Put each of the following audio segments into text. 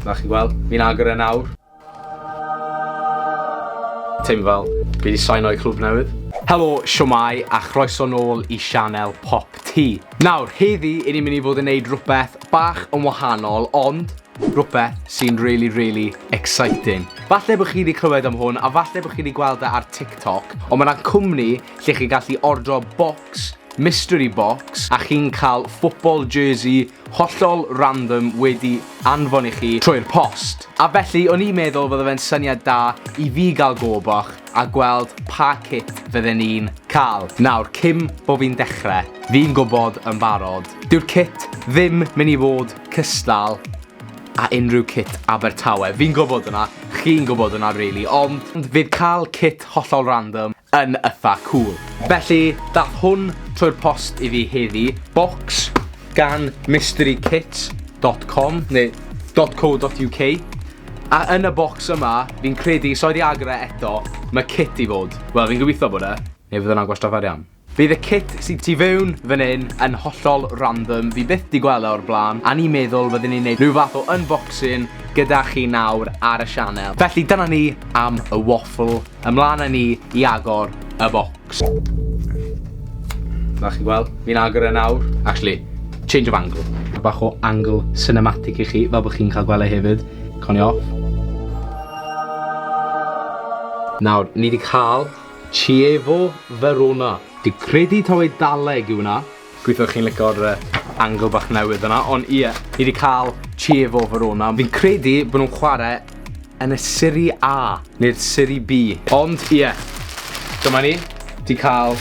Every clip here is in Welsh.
Na chi'n gweld, fi'n agor e nawr. Teimlo fel, fi wedi sain o'i clwb newydd. Helo, siomai, a chroeso nôl i sianel Pop T. Nawr, heddi, i ni'n mynd i fod yn neud rhywbeth bach yn wahanol, ond rhywbeth sy'n really, really exciting. Falle bod chi wedi clywed am hwn, a falle bod chi wedi gweld e ar TikTok, ond mae yna cwmni lle chi'n gallu ordro box mystery box a chi'n cael football jersey hollol random wedi anfon i chi trwy'r post. A felly o'n i'n meddwl fydde fe'n syniad da i fi gael go bach a gweld pa cip fydden ni'n cael. Nawr, cyn bo fi'n dechre, fi'n gwbod yn barod, dyw'r cit ddim mynd i fod cystal a unrhyw cit Abertawe. Fi'n gwbod hwnna, chi'n gwbod hwnna rili, ond fydd cael cit hollol random yn ytha cwl. Felly dath hwn trwy'r post i fi heddi, bocs gan mysterykits dot com neu dot co dot UK, a yn y bocs yma, fi'n credu, sori i agor e eto, ma' kit i fod, wel fi'n gobitho bod e, neu fydd wnna'n gwastraff arian. Fydd y kit sy tu fewn fan hyn yn hollol random, fi byth di gwel e o'r bla'n, a ni'n meddwl fydden ni'n neud rhyw fath o unboxing gyda chi nawr ar y sianel. Felly dyna ni am y waffle. Ymlaen â ni i agor y bocs. Fel chi'n gweld, fi'n agor e nawr. Actually, change of angle. A bach o angle cinematic i chi, fel bod chi'n cael gweld e hefyd. Con i off. Nawr, ni di cael Chievo Verona. Di credu taw Eidaleg yw hwnna. Gobeithio chi'n lico'r yy angle bach newydd yna, ond ie, ni 'di ca'l Chievo Verona. Fi'n credu bo' nhw'n chware yn y Serie A, neu'r Serie B. Ond ie, dyma ni, 'di ca'l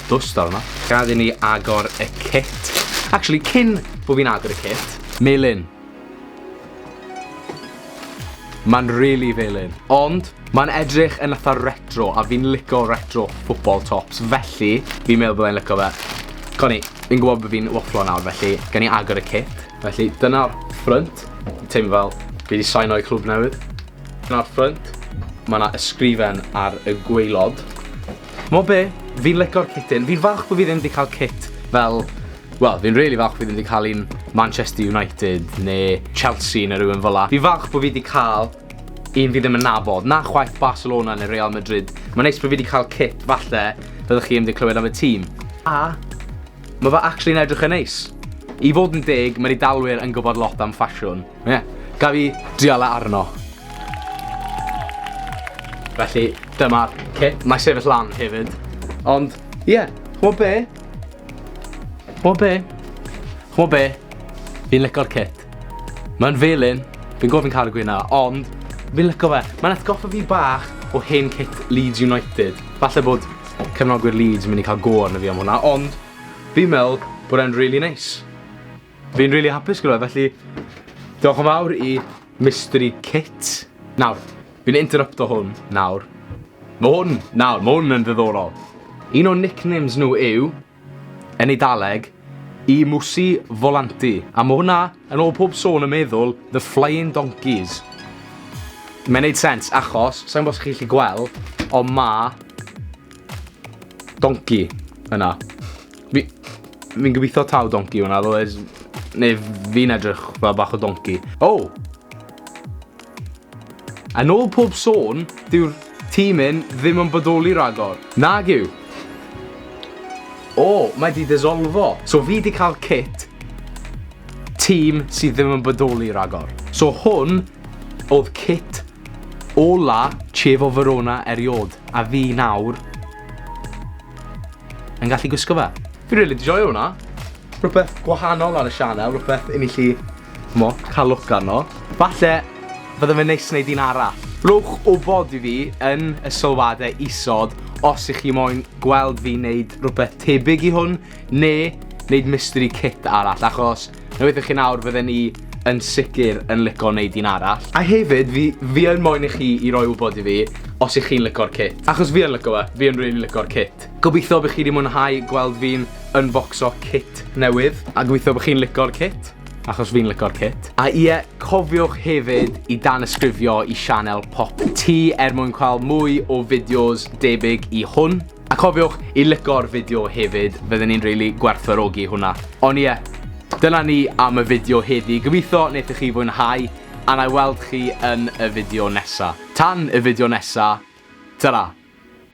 dwst arno. Gad i ni agor y kit. Actually, cyn bo' fi'n agor y kit, melyn. Ma'n rili felyn. Ond, ma'n edrych yn atha retro, a fi'n lico retro football tops, felly, fi'n meddwl byddai'n lico fe. Co ni, fi'n gwybod bod fi'n wafflo nawr, felly, gen i agor y kit. Felly, dyna'r ffrynt. Teimlo fel fi wedi saino i clwb newydd. Dyna'r ffrynt. Mae yna ysgrifen ar y gwaelod. Mo be, fi'n lico'r kityn. Fi'n falch bod fi ddim wedi cael kit fel Wel, fi'n rili falch fi ddim 'di cael un Manchester United neu Chelsea neu rhywun fel 'a. Fi'n falch bod fi 'di cael un fi ddim yn nabod, na chwaith Barcelona neu Real Madrid. Mae'n neis bod fi 'di cael kit falle fyddwch chi ddim 'di clywed am y tîm. A mae fe actually'n edrych yn neis. I fod yn deg, mae'r Eidalwyr yn gwybod lot am ffasiwn. Ie, yeah. gaf i drial e arno. Felly, dyma'r kit. Mae sefyll lan hefyd. Ond, ie, yeah, chwbod be? Ch'mo' be'? Ch'mo' be'? Fi'n lico'r kit. Ma'n felyn, fi'n gw'o' fi'n ca'l y gwyn 'na, ond fi'n lico fe. Ma'n atgoffa fi bach o hen kit Leeds United. Falle bod cefnogwyr Leeds yn myn' i ca'l go arno fi am hwnna, ond fi'n me'wl bod e'n rili neis. Fi'n rili hapus gyda fe, felly diolch yn fawr i Mystery Kit. Nawr, fi'n interrupto hwn nawr. Mae hwn, nawr, mae hwn yn ddiddorol. Un o'n nicknames nhw yw, yn Eidaleg, i Musi Volanti. A mae hwnna, yn ôl pob sôn yn meddwl, The Flying Donkeys. Mae'n neud sens, achos, sa'n gwybod os chi'n gallu gweld, ond ma... Donkey, yna. Mi... Fi'n gobeithio taw donci yw hwnna, otherwise... Neu fi'n edrych fel bach o donci. O! Oh! Yn ôl pob sôn, dyw'r tîm hyn ddim yn bodoli rhagor. Nag yw. O, oh, mae di disolfo. So fi di cael kit tîm sydd ddim yn bodoli rhagor. So hwn oedd kit ola Chievo Verona eriod. A fi nawr yn gallu gwisgo fe. Fi rili really joio hwnna. Rhywbeth gwahanol ar y sianel, rhywbeth i ni chi, mo, cael look arno. Falle, fydde fe'n neis wneud un arall. Rhowch wybod i fi yn y sylwadau isod os ych chi moyn gweld fi wneud rhywbeth tebyg i hwn, neu wneud mystery kit arall, achos Na beth i chi nawr, fydden ni yn sicr yn lico wneud un arall. A hefyd, fi, fi yn moyn i chi i roi wybod i fi os ych chi'n lico'r kit. Achos fi yn lico fe, fi yn really lico'r kit. Gobeithio bych chi wedi mwynhau gweld fi'n unboxo kit newydd. A gobeithio bych chi'n lico'r kit, achos fi'n lico'r kit. A ie, cofiwch hefyd i danysgrifio i sianel Pop Tee er mwyn cael mwy o fideos debyg i hwn. A cofiwch i lico'r fideo hefyd, fydden ni'n rili gwerthfawrogi hwnna. Ond ie, dyna ni am y fideo heddi, gobeithio wnaethoch chi fwynhau, a na i weld chi yn y fideo nesa. Tan y fideo nesa, ta-ra!